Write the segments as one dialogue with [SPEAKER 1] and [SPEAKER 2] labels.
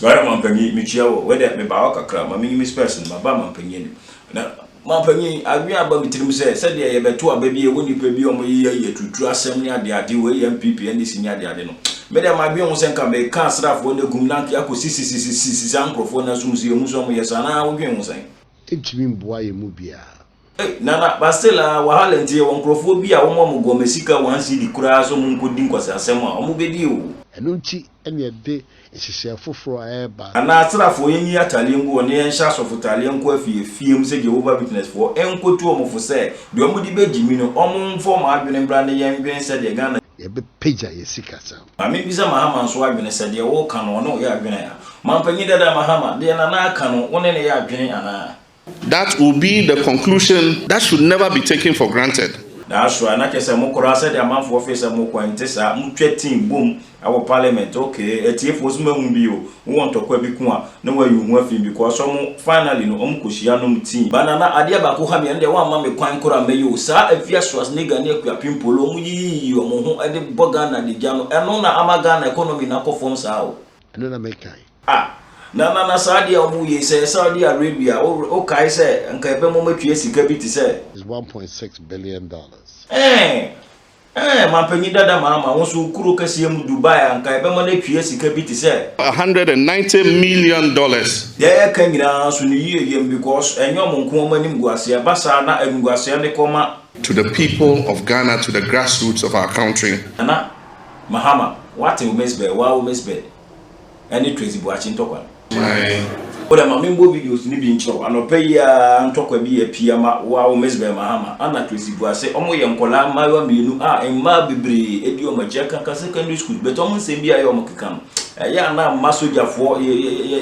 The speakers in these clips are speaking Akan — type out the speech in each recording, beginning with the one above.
[SPEAKER 1] Bra mampanyin mekyia wo. Wei dɛ mebaa hɔ kakra ma menyi me spɛs no maba mampanyin anim. Na mampanyin adwen aba me tirim sɛ sɛdeɛ yɛbɛto aba bi a ɛwɔ nnipa bi a wɔyeyɛ yi aturutu asɛm ne adeade wei yɛ NPP NDC ne adeade no me dɛ madwen ho sɛ nka meka asraafoɔ no agum na anka akɔ sisisisisisi saa nkorɔfoɔ no asom so yɛhu sɛ wɔyɛ saa anaa wodwen ho sɛn? Ɛntumi mboa
[SPEAKER 2] yɛn mu biara. Ei Nana
[SPEAKER 1] Bastil aa wahala nti yɛwɔ nkorɔfoɔ bi a wɔma wɔn gɔmɛ sika one cedi koraa sɛ wɔn nkɔdi nkwaseasɛm a wɔn bɛdi oo. Ɛno nti
[SPEAKER 2] na yɛde nhyehyɛɛ foforɔ a ɛreba. Anaa asrafoɔ yɛnyi
[SPEAKER 1] atadeɛ ngu hɔ na yɛnhyɛ asɔfotadeɛ nkɔ afie afie mu sɛ Jehovah Witnessfoɔ nkɔtu wɔn fo sɛ deɛ wɔn de bɛgye mi no wɔn mfa wɔn adwene mmra na yɛndwene sɛdeɛ Ghana Yɛbɛpagya yɛn
[SPEAKER 2] sikasɛm. Maame bisa Mahama
[SPEAKER 1] nso adwene sɛ deɛ woreka no ɔne wo yɛ adwene a? Mampanyin dada Mahama, deɛ Nana aka no wo ne no yɛ adwene anaa? That will be
[SPEAKER 3] the conclusion that should never be taken for granted. Naaso a na kyerɛ
[SPEAKER 1] sɛ mokor ara sɛdeɛ amanfo wɔfee sɛ mokɔ, ɛnte saa. Motwa tsin bom wɔ parliament. Okay, etsiefoɔ so mahu bi o, wowɔ ntɔkwa bi ko a na wɔayi wo ho afi mu because ɔmo finally no ɔmo kɔhyia nom tea. Ba Nana, adeɛ baako ha me, ɛno deɛ woamma me kwan koraa mɛyɛ o, saa Afia Schwarzenegger ne Akua Pimpolo a ɔmo yiyiyiyi ɔmo ho de bɔ Ghana de gya no, ɛno na ama Ghana economy no akɔ fam saa o. Ɛno na mekae.
[SPEAKER 2] Ah na na na
[SPEAKER 1] saa adeɛ a wɔn yei sɛ Saudi Arabia wo wo kae sɛ nka ɛbɛ mo mɛtua sika bi te sɛ. Is one point six
[SPEAKER 2] billion dollars. Ɛɛ ɛɛ
[SPEAKER 1] manpanyin dada maama wo nso wo kuro kɛseɛ mu Dubai a nka ɛbɛ mo no atua sika bi te sɛ. A hundred and ninety
[SPEAKER 3] million dollars. Deɛ yɛka
[SPEAKER 1] nyinaa nso no yie yɛm because ɛnyɛ wɔn nko wɔn anim gu aseɛ ɛba saa na animguaseɛ no kɔ ma. To the people
[SPEAKER 3] of Ghana to the grassroots of our country. Nana
[SPEAKER 1] mahama wate wo miss bɛ waa wo miss bɛ. ɛne Tracy Boakye ntɔkwa no. Wodɛ ma menbɔ videos no bi nkyerɛ wo. Anɔpa yi ara ntɔkwa bi apue ama wo ara wo Mizbel Mahama, Anna Tracy Boase. Wɔn yɛ nkwadaa mmaayewa mmienu a mmaa bebree di wɔn akyi. Ɛkanka secondary schools but wɔn nsɛm bi a ɛyɛ a wɔkeka no, ɛyɛ a na mma sogyafoɔ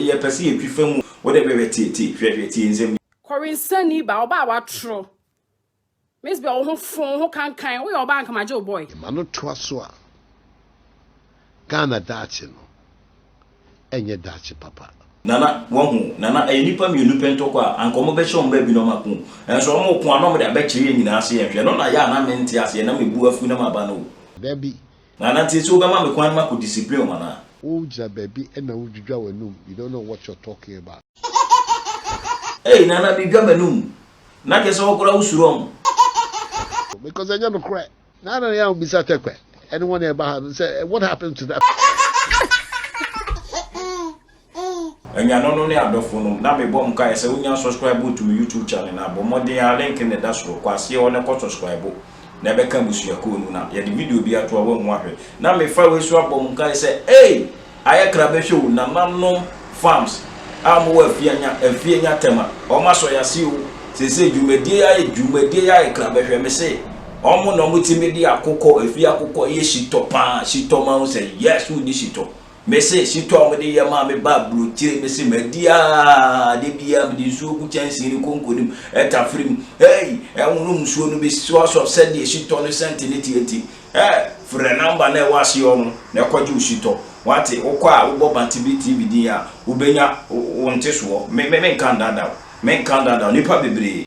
[SPEAKER 1] yɛpɛ sɛ yɛtwi fa mu. Wodɛ hwɛ hwɛ tie tie hwɛ hwɛ tie nsɛm yi. Kɔwensani baa,
[SPEAKER 4] ɔbaa a watoro. Miss bɛ wo ho fo wo ho kankan woyɛ ɔbaa anka magye wo boy. Yɛma no toa so a,
[SPEAKER 2] Ghana daakye no ɛnyɛ daakye papa. Nana wahu
[SPEAKER 1] Nana ɛyɛ nipa mienu pɛ ntɔkwa a anka ɔmo bɛhyɛ ɔmo baabi na ɔmo ako nso ɔmo ko a na ɔmo de abɛkyere yɛn nyinaa se yɛnhwɛ ɛno na yɛ a na mente aseɛ na mebu afu na maba no o. Dabi
[SPEAKER 2] Nana Tieto
[SPEAKER 1] wobɛma me kwan makɔ discipline wo anaa? Wo gyina baabi
[SPEAKER 2] na wo dwidwa w'anum you don't know what you're talking about. Ei nana
[SPEAKER 1] me dwa m'anum. Na kyerɛ sɛ wo koraa wo suro ɔmo.
[SPEAKER 2] Because ɛnyɛ nokorɛ. Naa na yɛn bisa tɛkwɛ ɛne wɔn a ɛba ha no sɛ what happened to that.
[SPEAKER 1] Anuanomnom ne adɔfonom, na me bɔ mo nkaeɛ sɛ wonya sɔskraibo to me YouTube channel no a, bɔ mmɔden ara, link no da soro, kɔ aseɛ hɔ na kɔ sɔskraibo, na ɛbɛka abusuakuo no, na yɛde video bi ato a woahu ahwɛ. Na me fa wei so abɔ mo nkaeɛ sɛ, ei! Ayɛ kra bɛhwɛ o, nananom farms a wɔwɔ Afianya, Afianya Tema, wɔn asɔ yɛn ase o, seesei dwumadie yi ayɛ, dwumadie yi ayɛ kra bɛhwɛ, me se, wɔn na wɔtumi de akokɔ, efie akokɔ yɛ shitɔ paa, shitɔ, moahu sɛ, yes, wodi shitɔ, Mese shito a wɔde yɛ maa me ba aburokyire, mese madi aa, da biara mede nsuo gu kyɛnsee no konko no mu, ɛtafere mu, hey, ɛnwono nsuo no because of sɛdeɛ shito no scent no teɛ nti. Hey, frɛ number no a ɛwɔ aseɛ hɔ no na ɛkɔgye wo shito. Wate, wokɔ a wobɔ Bantebe TV din a, wobɛnya wo ntesoɔ. Me, me, menka ndaadaa wo, menka ndaadaa wo, nnipa bebree.